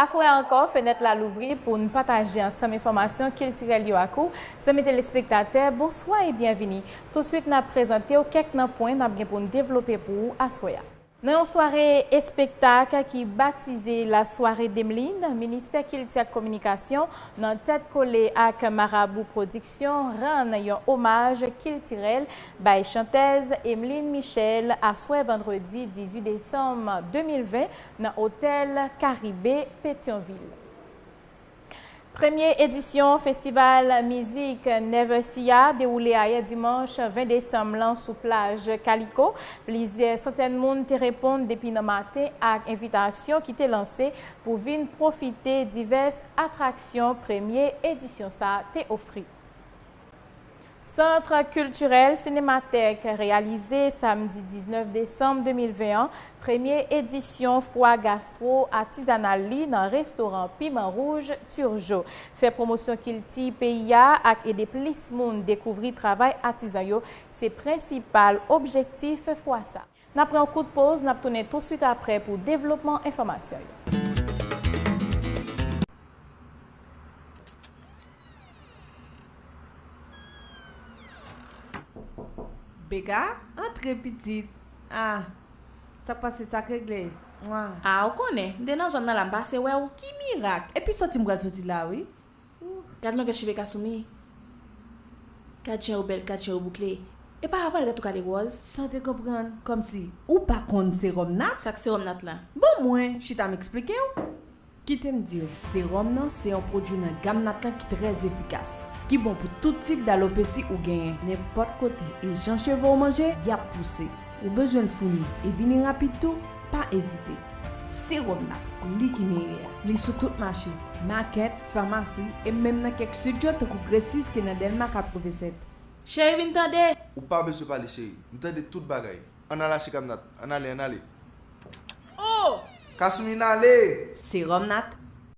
Aswè a ankò, fenèt la louvri pou n pataje ansanm enfòmasyon kiltirèl yo ak ou. Zanmi telespektatè, bonswa e byenvini! Tousuit n ap prezante w kèk nan pwen n ap gen pou n devlope pou ou aswè a. Nan yon sware espektak ki batize La Soirée d'Emeline, Ministè Kilti ak Kominikasyon, nan tèt kole ak Marabou Pwodiksyon, rann yon omaj kiltirèl bay chantèz Emeline Michel aswè vandredi 18 desanm 2020 nan otèl Karibe, Petyonvil. Premye edisyon festival mizik Never See a dewoule ayè dimanch 20 desanm lan sou plaj Kaliko. Plizyè santèn moun te reponn depi nan maten ak envitasyon ki te lanse pou vin pwofite divès atraksyon premye edisyon sa te ofri. Centre Culturel Cinémathèque reyalize samdi 19 desanm 2020 an premye edisyon fwa gastwo atizanal li nan restoran Piman Wouj Turgeau. Fè pwomosyon kilti peyi a ak ede plis moun dekouvri travay atizan yo se prensipal objektif fwa sa a. N ap pran yon kout poz, n ap tounen tousuit aprè pou devlopman enfòmasyon yo. Beka, antre pitit. Ah, sa k pase? Sa k regle? Mwah. Ah, ou konnen, m te nan zòn nan la, m pase wè ou. Ki mirak? Epi sòti m pral sòti la wi. Ooh. Gad longè cheve Kasumi. Gad jan yo bèl gad jan yo boukle epa avanl ret ou kale wòz. Sa te konprann? Kòmsi ou pa konn serum nat? Sak serum nat la? Bon mwen chita m eksplikew. Kitem diw, serum nan se yon pwodwi nan gam nat lan ki trè efikas, ki bon pou tout tip d'alopesi ou genyen, nenpòt kote e jan chevew manje yap pouse. Ou bezwen l founi e vini rapid tou? Pa ezite! Sewòm nan pri ki meyè a, li sou tout mache, makèt, famasi e menm nan kèk sit yo tankou Gressis ki nan Dèlma 87. Cheri vin tande! Ou pa bezwen pale cheri, m tande tout bagay. Ann al achte Kamnat. Ann ale, ann ale. O! Kasumi n ale! Sewòm nat.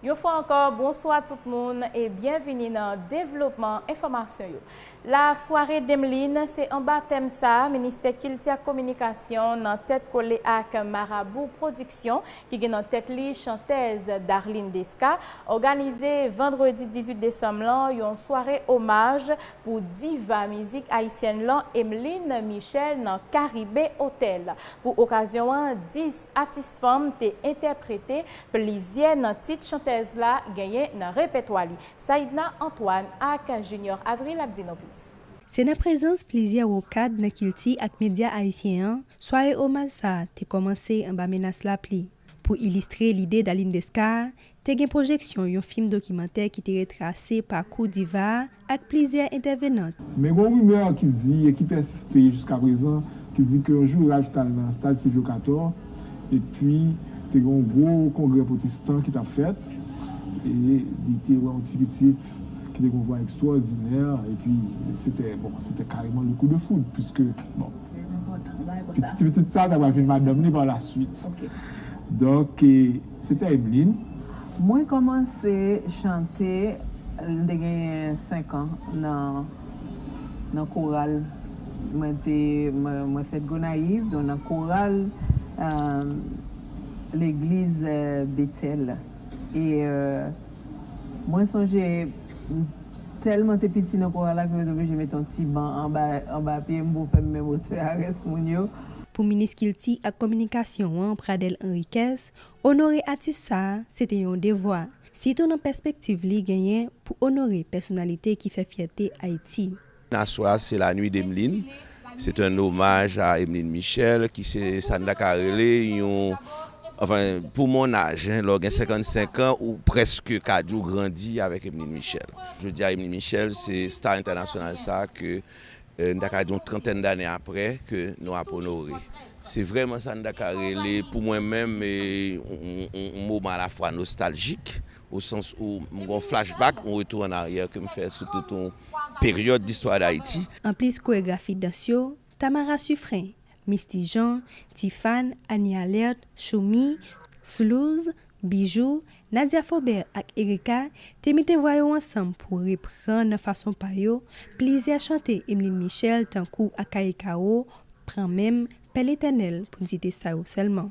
Yon fwa ankò, bonswa tout moun e byenvini nan devlopman enfòmasyon yo. La soirée d'Emeline, se anba tèm sa Ministè Kilti ak Kominikasyon nan tèt kole ak Marabou Production ki gen nan tèt li chantèz Darline Desca, òganize vandredi 18 desanm lan yon sware omaj pou diva mizik ayisyèn lan Emeline Michel nan Caribe Hotel. Pou okazyon an, 10 Atis fanm te entèprete plizyè nan tit chantèz la genyen nan repètwa li. Saïdna Antoine ak Junior Avril ap di nou plis. Se nan prezans plizyè wo kad nan kilti ak medya ayisyen an, sware omaj sa a te kòmanse anba menas lapli. Pou ilistre lide Daline Desca, Te gen pwojeksyon yon fim dokimantè ki te retrase pakou diva a ak plizyè entèvenant. Men gon rimè ki di e ki pèsiste jiskaprezan ki di ke yon jou Ralph t al nan stad Sylvio Cator epi te gen yon gwo kongrè pwotestan ki t ap fèt e li te wè yon ti pitit ki te gen yon vwa ekstwòdinè epi se te bon se te kareman le kou de foud piske bon ti pitit sa a ta pral vin madanm li pa la swit donk Se te Emeline. Mwen kòmanse chante lè m te genyen senkan nan koral. Mwen fèt Gonayiv donk nan koral legliz Betèl e mwen sonje m tèlman te piti nan koral la ke yo te oblije mete yon ti ban anba pye m pou fè m menm otè a rès moun yo. Pou Minis Kilti ak Kominikasyon an, Pradel Henriquez, onore atis sa a, se te yon devwa, sitou nan pèspektiv li genyen pou onore pèsonalite ki fè fyète Ayiti. Nan swa a, se La Nuit d'Emeline, c'est un hommage à Emeline Michel, ki se sa n ta ka rele yon, anfen, pou mon âge, lè w gen 55 ans, ou prèske ka di w grandi avèk Emeline Michel. Jodi a, Emeline Michel se star entènasyonal sa a ke N ta ka di yon trantèn dane apre ke nou ap onore. Se vrèman sa n ta ka rele pou mwen menm yon moman alafwa nostaljik, o sans ou m gen yon flashback, yon retou an aryè ke m fè sou tout yon peryòd distwa Dayiti. Anplis koregrafi dans yo, Tamara Suffren Misty Jean, Tifàn, Annie Alerte, Shoomy, Slouz, Bijoux, Nadia Faubert ak Ericka te mete vwa yo ansanm pou repran nan fason pa yo plizyè chante Emeline Michel tankou Akaye Kawo, Pran men m, Pè Letènèl pou n site sa yo sèlman.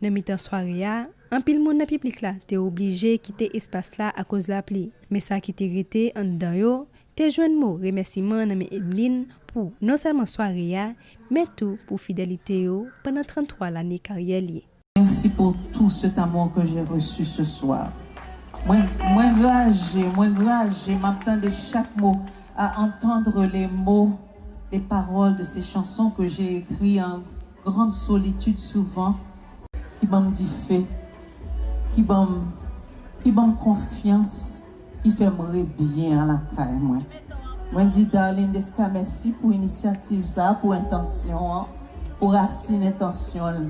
Nan mitan sware a, anpil moun nan piblik la te oblije kite espas la akoz lapli, men sa ki te rete anndan yo te jwenn mo remèsiman nan men Emeline pou non sèlman sware a, men tou pou fidelite yo pandan 33 lane karyè li. Merci pour tout cet amour que j'ai reçu ce soir mwen mwen graje mwen graje map tande chak mo a entendre les mots les paroles de ces chansons que j'ai écrit en Grande solitude souvan ki banm dife ki banm ki banm konfyans ki fèm re byen a lakay mwen mwen di Darline Desca mèsi pou inisyativ sa pou entansyon an pou rasin entansyon l.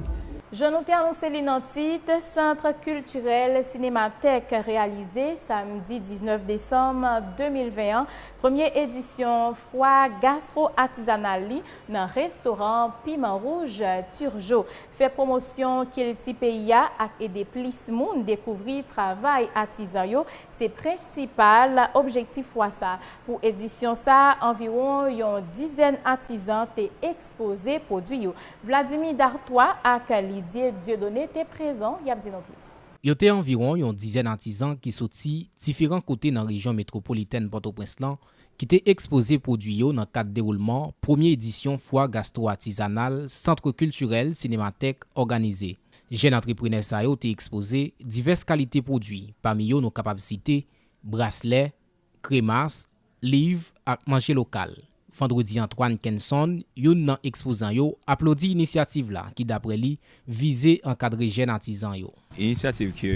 Jan nou te anonse li nan tit, Centre Culturel Cinémathèque reyalize, samdi 19 desanm 2020 an, premye edisyon fwa gastro-atizanal li, Nan restoran Piman Wouj, Turgeau fè pwomosyon kilti peyi a ak ede plis moun dekouvri travay atizan yo se prensipal objektif fwa sa. Pou edisyon sa, anviwon yon dizèn atizan te ekspoze pwodwi yo. Vladimir Dartois ak Lidye Dieudonné te prezan, y ap di nou plis. Yo te anviwon yon dizèn atizan ki soti diferan kote nan rejyon metwopolitèn Pòtoprens lan ki te ekspoze pwodui yo nan kad dewoulman premye edisyon fwa gastwo-atizanal Centre Culturel Cinémathèque òganize. Jèn antreprenè sa yo te ekspoze divès kalite pwodui, pami yo nou kapab site, braslè, kremas, liv ak manje lokal. Vendredi Antoine Kenson, youn nan ekspozan yo, aplodi inisyativ la ki daprè li vize ankadre jèn atizan yo. Inisyativ ke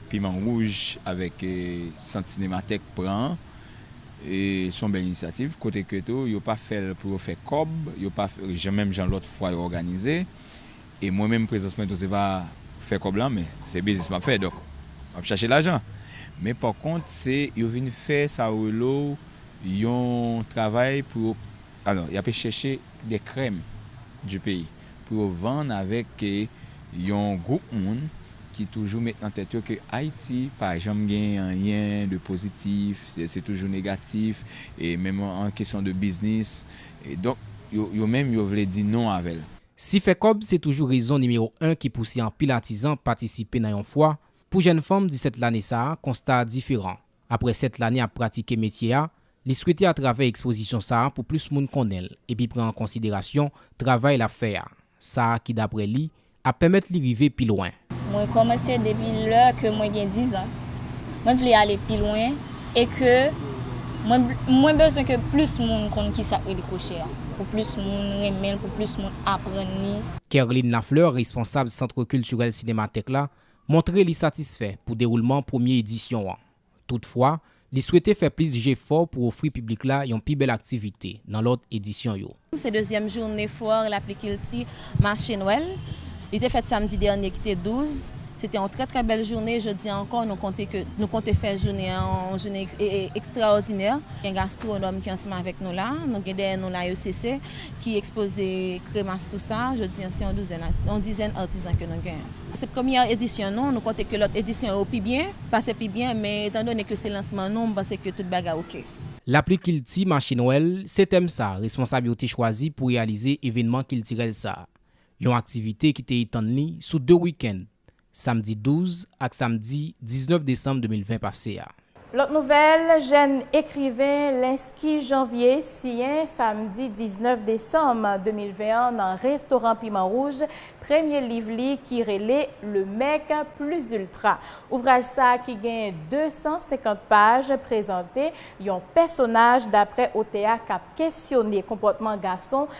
Piman Wouj avèk Sant Sinematèk pran an se yon bèl inisyativ kote ke tou yo pa fè l pou yo fè kòb, yo pa menm jan lòt fwa yo òganize e mwen menm prezans mwen tou se pa fè kòb lan men se biznis m ap fè donk m ap chache lajan men pa kont se yo vin fè sa rele w yon travay pou yo Alò, y ape chèche des crèmes du pays pou yo vann avèk yon gwoup moun ki toujou met nan tèt yo ke Ayiti pa janm gen anyen de pozitif, se toujou negatif, e menm an kesyon de biznis. Donk, yo menm yo vle di non avè l. Si fè kòb se toujou rezon nimewo 1 ki pouse anpil atizan patisipe nan yon fwa, pou jèn fanm 17 lane sa a, konsta a diferan. Aprè 7 lane ap pratike metye a, li swete atravè ekspozisyon sa pou plis moun konnen l epi pran an konsiderasyon travay l ap fè a, sa ki daprè li ap pèmèt li rive pi lwen. Mwen kòmanse depi lè ke mwen gen 10 an. Mwen vle ale pi lwen e ke mwen mwen bezwen ke plis moun konn ki sa k rele kwochè a, pou plis moun renmen l, pou plis moun aprann li. Kerline Lafleur, responsab Centre Culturel Cinémathèque la, montre li satisfè pou dewoulman premye edisyon an. Toutfwa, li swete fè plis jefò pou ofri piblik la yon pi bèl aktivite nan lòt edisyon yo. Se dezyèm joune Foire Laplicilti, Mache Nwèl. Li te fèt samdi dènye ki te 12. Se te yon trè trè bèl joune. Jodi ankò, nou konte ke nou konte fè joune an yon joune ekstraòdinè. Gen gastwonòm ki ansanm avèk nou la. Nou gen dèyè nou la yo se se. ki ekspoze kremas tou sa, jodi an se yon douzèn a yon dizèn artisan ke nou gen. Se premyè edisyon nou, nou konte ke lòt edisyon yo pi byen, pase pi byen, men etan done ke se lansman nou, m panse ke tout bagay ok. Lapli kilti mache nwèl, se tèm sa responsab yo te chwazi pou reyalize evenman kiltirèl sa. Yon aktivite ki te etann li sou 2 week-end. samdi 12 ak samdi 19 desanm 2020 pase a. Lòt nouvèl, jèn ekriven Lensky Janvier siyen samdi 19 desanm 2020 an nan restoran Piman Wouj premye liv li ki rele Le mec plus ultra. Ouvraj sa ki gen 250 paj prezante yon pèsonaj daprè otè a k ap kesyone konpòtman gason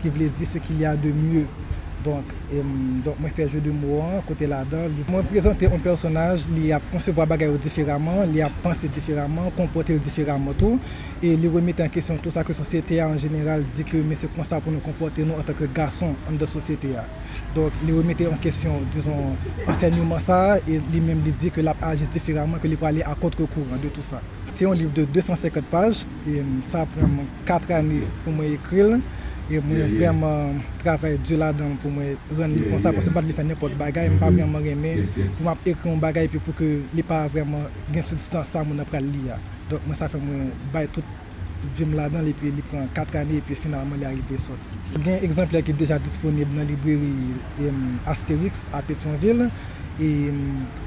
ki vle di ce qu'il y a de mieux donk donk mwen fè jeu de mots an kote ladan li mwen prezante yon pèsonaj li ap konsevwa bagay yo diferaman li ap panse diferaman konpòte l diferaman tou e li remete an kesyon tou sa ke sosyete a an jeneral di ke men se konsa pou nou konpòte nou antan ke gason anndan sosyete a donk li remete an kesyon dizon ansènyman sa a e li menm li di ke l ap aji diferaman ke li prale a kontre kouran de tou sa se yon liv de 250 paj. E sa pran mwen 4 ane pou mwen ekri l. E mwen vrèman travay di ladan l pou mwen rann li konsa paske m pa t vle fè nenpòt bagay. M pa vrèman renmen pou m ap ekri yon bagay epi pou ke li pa vrèman gen sibstans sa moun nan pral li a. Donk mwen sa fè mwen bay tout vi m ladan l epi li pran 4 ane epi finalman li arive sòti. Gen egzanplè ki deja disponib nan libreri Astérix a Petyonvil.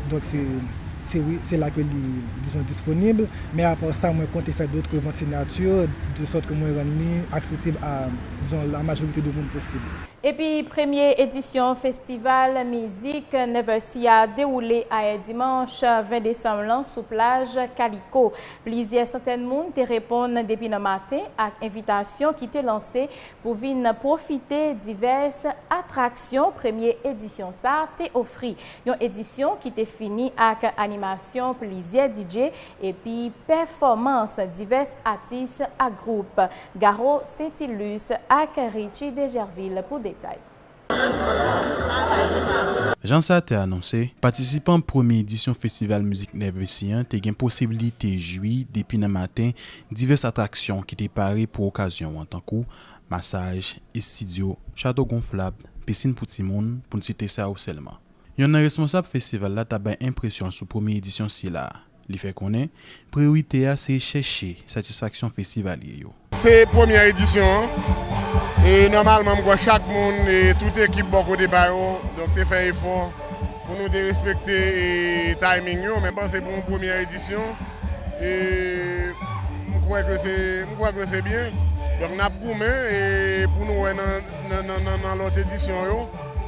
Donk se wi, se la ke li dizon disponib. Men apa sa mwen konte fè dotre vant sinyati de sòt ke mwen rann li aksesib a dizon la majorite de moun posib. Epi premye edisyon festival mizik Never See a dewoule ayè dimanch 20 desanm lan sou plaj Kaliko. Plizyè santèn moun te reponn depi nan maten ak envitasyon ki te lanse pou vin pwofite divès atraksyon premye edisyon sa te ofri. Yon edisyon ki te fini ak animasyon plizyè DJ epi pèfòmans divès atis ak gwoup. Garo Saintilus ak Richie Degervil pou detay. Jan sa te anonse, patisipan premye edisyon festival mizik Nervesi an te gen posibilite jwi depi nan maten divès atraksyon ki te pare pou okazyon an tankou, masaj, estidyo, chato gonflab, pisin pou timoun, pou n site sa yo sèlman. Yonn nan responsab festival la ta bay enpresyon sou premye edisyon sila a. Li fè konnen, priyorite a se chèche satisfaksyon festivalye yo. Se premyè edisyon an, e nòmalman m kwè chak moun e tout ekip bò kote pa yo donk te fè efò pou nou te respekte timing yo, men m panse pou yon premyè edisyon e m kwè ke se m kwè ke se byen donk n ap goumen e pou nou wè nan nan lòt edisyon yo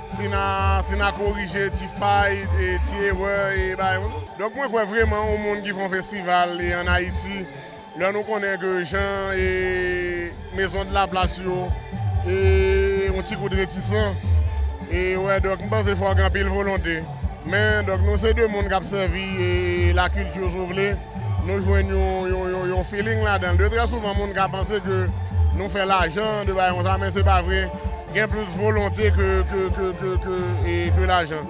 si n a si n a korije ti fay e ti erè e bagay konsa. Donk mwen kwè vreman yon moun ki fè yon festival an Haiti lè nou konnen ke jan maison de la place yo yon ti kout retisan e wè donk m panse fòk gen anpil volonte men donk nou se 2 moun kap sèvi la culture si w vle nou jwenn yon feeling ladan de trè souvan moun ka panse ke nou fè lajan de bagay konsa men se pa vre gen plis volonte ke lajan.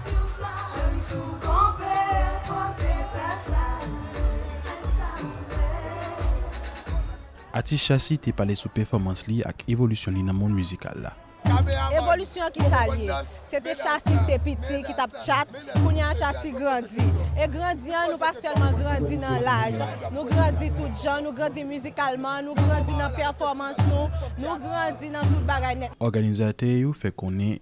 Atis Shassy te pale sou pèfòmans li ak evolisyon li nan mond mizikal la. Evolisyon ki sa l ye? Se te Shassy ki te piti ki t ap tchat, kounye a Shassy grandi. E grandi an, nou pa sèlman grandi nan laj, nou grandi tout jan, nou grandi mizikalman, nou grandi nan pèfòmans nou, nou grandi nan tout bagay nèt. Òganizatè yo fè konnen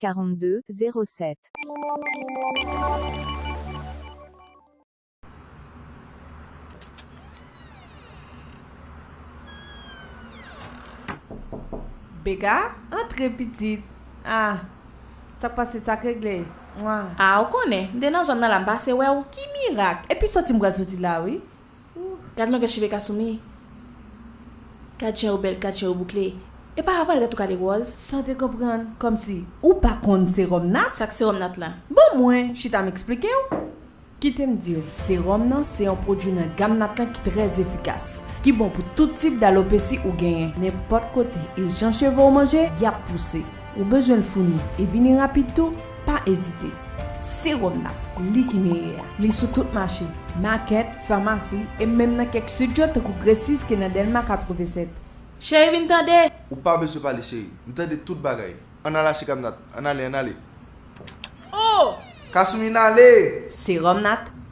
7 42 07. Bega, antre pitit. Ah Sak pase sak regle Mwah. Ah ou konnen, m te nan zòn nan la m pase wè ou. Ki mirak? Epi sòti m pral sòti la wi. Ooh. Gad longè cheve Kasumi. Gad jan yo bèl gad jan yo boukle epa avan li ta tou ka de ròz. San te konprann, kòmsi ou pa konn serum nat? Sak serum nat la? Bon mwen chita m eksplikew. Kitem diw, serum nan se yon pwodwi nan gam nat lan ki trè efikas, ki bon pou tout tip d'alopesi ou genyen. Nenpòt kote e jan cheve w manje, yap pouse. Ou bezwen l founi e vini rapid tou. Pa ezite! Sewòm nan, li ki meyè a. Li sou tout mache, makèt, famasi, e menm nan kèk sit yo tankou Gresis ki nan Dèlma 87. Cheri vin tande! Ou pa bezwen pale cheri. M tande tout bagay. Ann al achte Kamnat. Ann ale, ann ale. O! Kasumi n ale! Sewòm nan,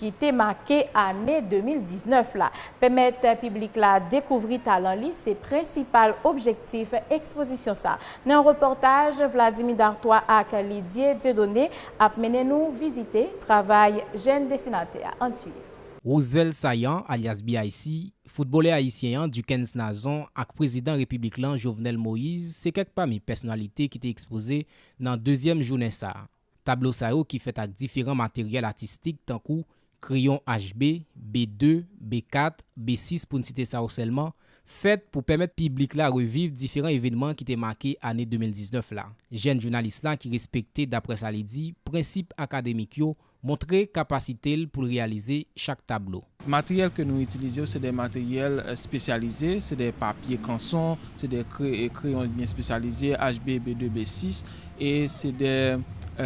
ki te make ane 2019 la. Pèmèt piblik la dekouvri talan li se prensipal objektif ekspozisyon sa. Nan yon repòtaj Vladimir Dartois ak Lidye Dieudonné ap mennen nou vizite travay jèn desinatè a. Ann swiv. Roosevelt Saillant alyas BIC, foutbolè ayisyen an Duckens Nazon ak prezidan repiblik lan Jovenel Moise se kèk pami pèsonalite ki te ekspoze nan dezyèm jounen sa. Tablo sa yo ki fèt ak diferan materyèl atistik tankou, kreyon HB, B2, B4, B6 pou n site sa yo sèlman, fèt pou pèmèt piblik la reviv diferan evènman ki te make ane 2019 la. Jèn jounalis la ki respekte daprè sa li di, prensip akademik yo, montre kapasite l pou l reyalize chak tablo. Materyèl ke nou itilize yo se de materyèl spesyalize, se de papye kanson, se de kreyon byen spesyalize HB, B2, B6, e se de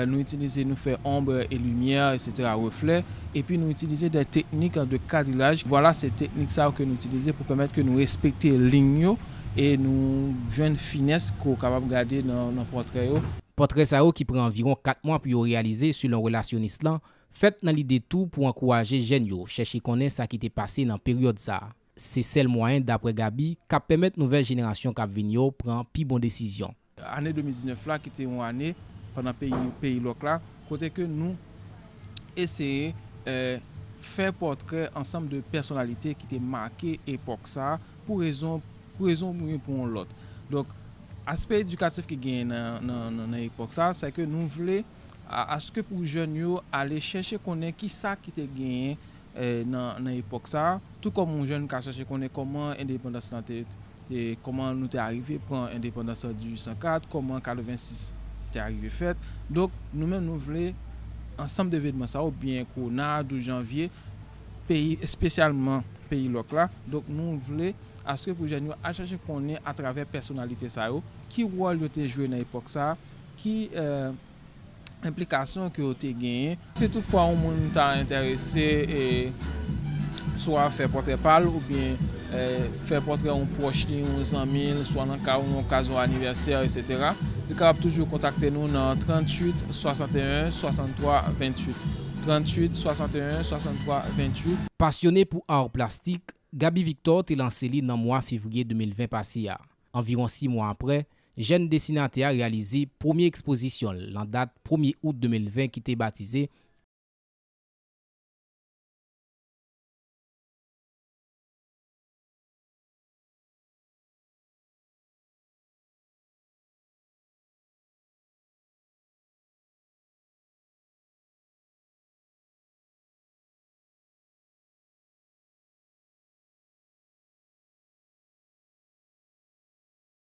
nou itilize nou fè ombre e limyè eksetera reflè, epi nou itilize de teknik de kadrilaj, vwala se teknik sa yo ke nou itilize pou pèmèt ke nou respekte lign yo e nou jwenn finès ke w kapab gade nan pòtrè yo. Pòtrè sa yo ki pran anviron 4 mwa pou yo reyalize selon relasyonis lan, Fèt nan lide tou pou ankouraje jèn yo chèche konnen sa ki te pase nan peryòd sa. Se sèl mwayen daprè Gaby k ap pèmèt nouvèl jenerasyon k ap vini yo pran pi bon desizyon. Ane 2019 la ki te yon ane pandan peyi peyi lòk la kote ke nou eseye fè pòtrè ansanm de pèsonalite ki te make epòk sa pou rezon pou rezon ou byen pou yon lòt. Donk aspè edikatif ki genyen nan nan epòk sa se ke nou vle. a aske pou jèn yo ale chèche konnen ki sa ki te genyen nan epòk sa a, tou kòm yon jèn ka chèche konnen kòman endepandans lan te, kòman nou te arive pran endepandans an 1804, kòman 86 te arive fèt. Donk, nou menm nou vle ansanm de evenman sa yo, byen kou nan a 12 janvye, peyi, espesyalman peyi lòk la, donk nou vle aske pou jèn yo al chèche konnen atravè pèsonalite sa yo, ki wòl yo te jwe nan epòk sa a, Ki enplikasyon ke yo te genyen? Si tout fwa yon moun ta enterese swa fè pòtrè pa l oubyen fè pòtrè yon pwòch li, yon zanmi l, swa nan ka yon okazyon anivèsè eksetera, li kapab toujou kontakte nou nan 38 61 63 28, 38 61 63 28. Pasyone pou ar plastik, Gaby Victor te lanse li nan mwa fevriye 2020 pase a. Anviwon si mwa aprè, Jèn desinatè a reyalize premye ekspozisyon l nan dat premye out 2020 ki te batize,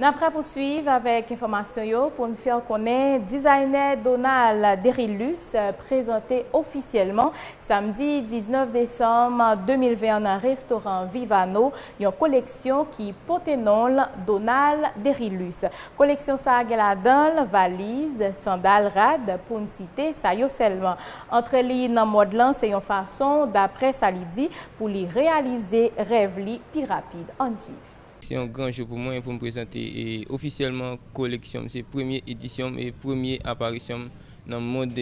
N ap rapousuiv avèk enfòmasyon yo pou n fè w konnen dizaynè Donald Derilus prezante ofisyèlman samdi 19 desanm 2020 an nan restoran Vivano yon koleksyon ki pote non l Donald Derilus. Koleksyon sa gen ladan l valiz, sandal, rad pou n site sa yo sèlman. Antre li nan mòd lan se yon fason, daprè sa li di, pou li reyalize rèv li pi rapid. Ann swiv. Se yon gran jou pou mwen pou m prezante ofisyèlman koleksyon m. Se premye edisyon m e premye aparisyon m nan mond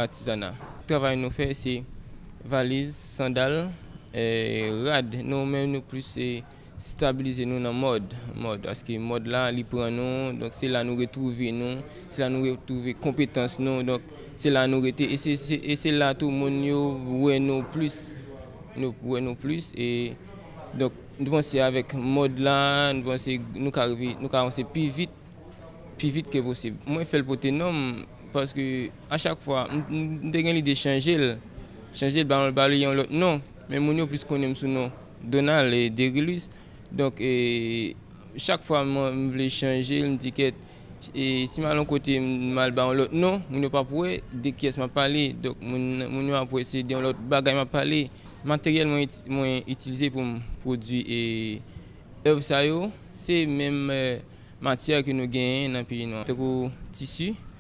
atizana. Travay nou fè se valiz, sandal, rad. Nou menm nou plis. Stabilize nou nan mòd, mòd, paske mòd la li pran nou, donk se la nou retwouve nou, se la nou retwouve konpetans nou, donk se la nou rete e se la tou moun yo wè nou plis, yo wè nou plis e donk nou panse avèk mòd la nou panse nou ka rive, nou ka vanse pi vit, pi vit ke posib. Mwen fè l pote non m paske a chak fwa m te gen lide chanje l, chanje l ba l yon lòt non. Men moun yo plis konnen m sou non Donald Derilus. Donk chak fwa m vle chanje l, m di kèt si m al yon kote m al ba yon lòt non, moun yo pap wè de kiyès m ap pale. Donk moun yo ap wè se de yon lòt bagay m ap pale. Materyèl mwen itilize pou m pwodui èv sa yo se menm matyè ke nou genyen nan peyi nou an tankou tisi.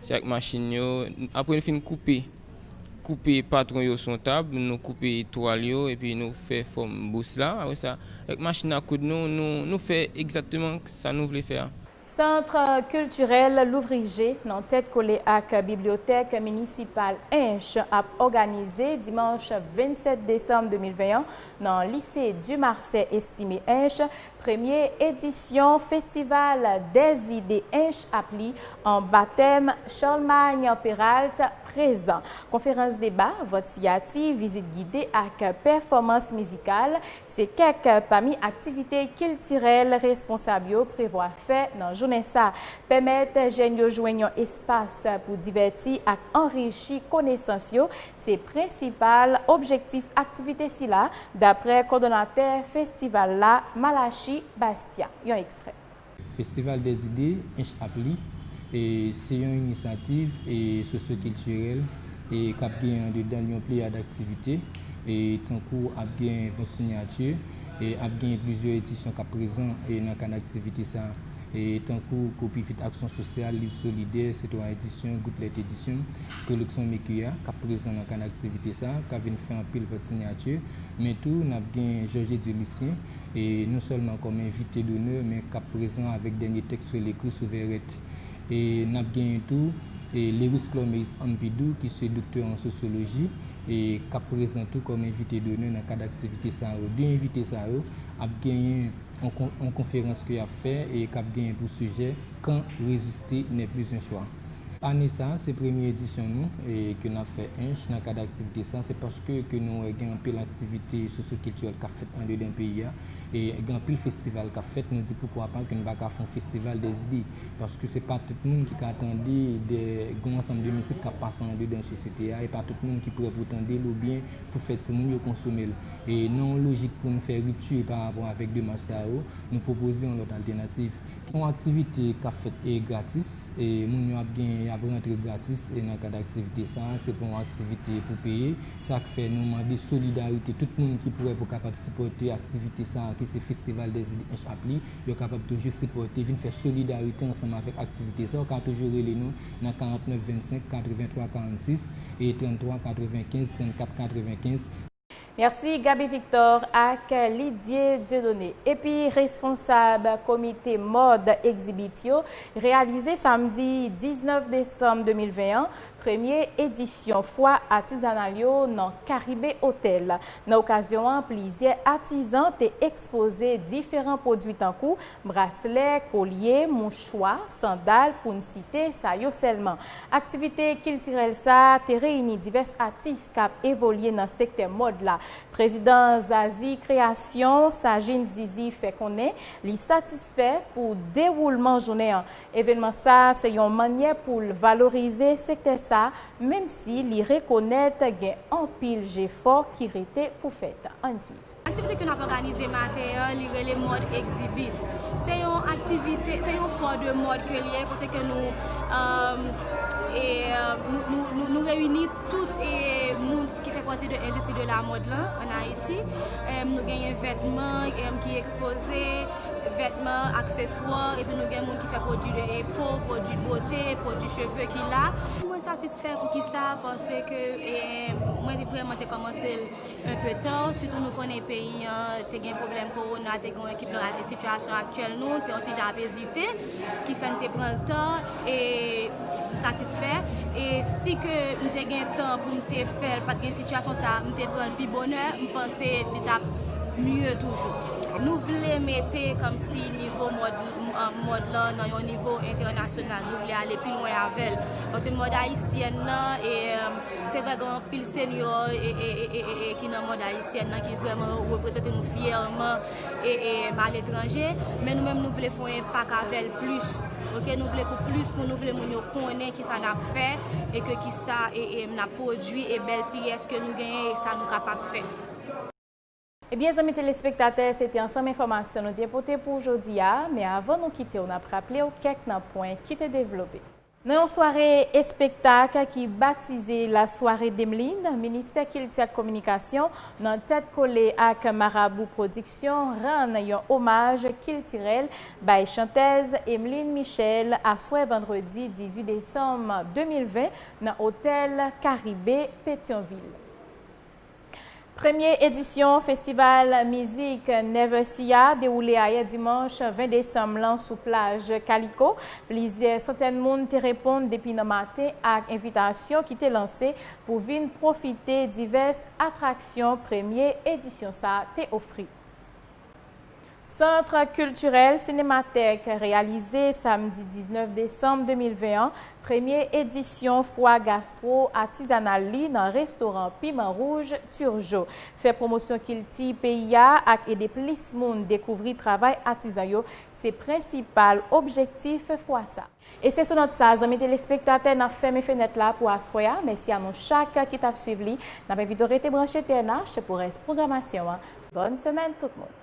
Se ak machin yo, apre n fin koupe, koupe patwon yo sou yon tab, nou koupe twal yo epi nou fè fòm bous la. Apre sa, avèk machin a koud nou, nou fè egzakteman sa nou vle fè a. Centre Culturel Louvriger nan tèt kole ak Bibliothèque Municipale Hinche ap òganize dimanch 27 desanm 2020 an nan Lycée Dumarsais Estimé Hinche Premye edisyon Festival des idées Ench ap li anba tèm Charlemagne Péralte prezan. Konferans deba, vòt siyati, vizit gide ak pèfòmans mizikal se kèk pami aktivite kiltirèl responsab yo prevwa fè nan jounen sa. Pèmèt jèn yo jwenn yon espas pou divèti ak anrichi konesans yo se prensipal objektif aktivite sila. Daprè kòdonatè festival la, Malachi Bastien, yon ekstrè. Festival des idées, Ench ap li, se yon inisyativ sosyokiltirèl k ap gen andedan l yon pleyad aktivite, tankou ap gen vant sinyati, ap gen plizyè edisyon k ap prezan nan kad aktivite sa a, tankou Kopivit Aksyon Sosyal, Liv Solidè, Sitwayen Edisyon, Gouplèt Edisyon. Preleksyon Micky a, k ap prezan nan kanal aktivite sa a, ka vin fè anpil vòt sinyati, men tou n ap gen Georges Dieu Lucien, non sèlman kòm envite donè, men k ap prezan avèk dènye tèks l ekri sou Verrette. E n ap genyen tou Lerice Clormeis Ampidou ki se doktè an sosyoloji, k ap prezan tou kòm envite donè nan kad aktivite sa yo. De envite sa yo ap genyen yon konferans ke y ap fè e k ap genyen pou sijè Quand résister n'est plus un choix. Ane sa se premye edisyon nou ke nap fè ench nan kad aktivite sa se paske ke nou wè gen anpil aktivite sosyo kiltirèl kap fèt andedan peyi a e gen anpil festival kap fèt nou di poukwa pa ke nou pa ka fon festival dè zide paske se pa tout moun ki ka tande dè gon ansanm de mizik kap pase andedan sosyete a e pa tout moun ki prè pou tandel oubyen pou fè timoun yo konsomel e nan yon lojik poun fè ripti pa rapò avèk demach sa yo nou pwopoze yon lòt altenativ. Yon aktivite k ap fèt gratis, moun yo ap genyen y ap rantre gratis nan kad aktivite sa a. Se pa yon aktivite pou peye. Sa k fè nou mande solidarite tout moun ki prè pou kapab sipòte aktivite sa a ki se Festival des Ides Hinche Apli. Yo kapab toujou sipòte, vin fè solidarite ansanm avèk aktivite sa a. Ou ka toujou rele nou nan 49 25 83 46 e 33 95 34 95. Merci Gaby Victor ak Lidye Dieudonné epi responsab komite mòd Exhibit yo reyalize samdi 19 desanm 2020 an premye edisyon fwa atizanal yo nan Caribe Hotel. Nan okazyon an plizyè atizan te ekspoze diferan pwodwi tankou braslè, kolye, mouchwa, sandal pou n site sa yo sèlman. Aktivite kiltirèl sa te reyini divès atis k ap evolye nan sektè mòd la. Prezidan Zazie Création, Sajin Zizi fè konnen li satisfè pou dewoulman jounen an. Evenman sa se yon mannyè pou l valorize sektè sa menm si li rekonèt gen anpil jefò ki rete pou fèt. Ann swiv. Aktivite ke nap òganize maten an li rele mòd egzibit. Se yon aktivite, se yon fò de mòd ke li ye kote ke nou nou reyini tout moun ki fè pati de endistri de la mòd lan an Ayiti. Nou genyen vètman ki ekspoze, vètman, akseswa, epi nou gen moun ki fè pwodui de po, pwodui bote, pwodui cheve ki la. Mwen satisfè poukisa? Paske mwen te vreman te kòmanse l. un peu tard sitou nou konnen peyi an te gen pwoblèm kowona te gen yon ekip nan e sitiyasyon aktyèl nou te yon ti jan ap ezite ki fè n te pran l tan e m satisfè e si ke m te gen tan pou m te fè l pat gen sitiyasyon sa m te pran l pi bonè m panse li t ap mye toujou nou vle mete kòmsi nivo mòd mòd lan nan yon nivo entènasyonal nou vle ale pi lwen avè l paske mòd ayisyèn nan e. Se vre gen anpil senyò ki nan mond ayisyèn nan ki vrèman reprezante nou fyèman a letranje, men nou menm nou vle fè yon enpak avè l plis, ok, nou vle pou plis moun, nou vle moun yo konnen ki sa n ap fè e ke ki sa n ap pwodui e bèl pyès ke nou genyen e sa nou kapab fè. Ebyen zanmi telespektatè se te ansanm enfòmasyon nou te pote pou w jodi a, men avan nou kite w n ap raple w kèk nan pwen ki te devlope. Nan yon sware espektak ki batize la soirée Demeline, Ministè Kilti ak Kominikasyon nan tèt kole ak Marabou Pwodiksyon rann yon omaj kiltirèl bay chantèz Emeline Michel aswè vandredi 18 desanm 2020 nan otèl Karibe Petyonvil. Premye edisyon festival mizik Never See a dewoule ayè dimanch 20 desanm lan sou plaj Kaliko. Plizyè santèn moun te reponn depi nan maten ak envitasyon ki te lanse pou vin pwofite divès atraksyon premye edisyon sa te ofri. Centre Culturel Cinémathèque reyalize samdi 19 desanm 2020 an premye edisyon fwa gastwo atizanal li nan restoran Piman Rouj Turgeau. Fè pwomosyon kilti peyi a ak ede plis moun dekouvri travay atizan yo se prensipal objektif fwa sa. E se sou nòt sa, zanmi telespektatè, n ap fèmen fenèt la pou aswè a. Mèsi a nou chak ki t ap swiv li. N ap envite w rete branche TNH pou rès pwogramasyon an. Bòn semèn tout moun!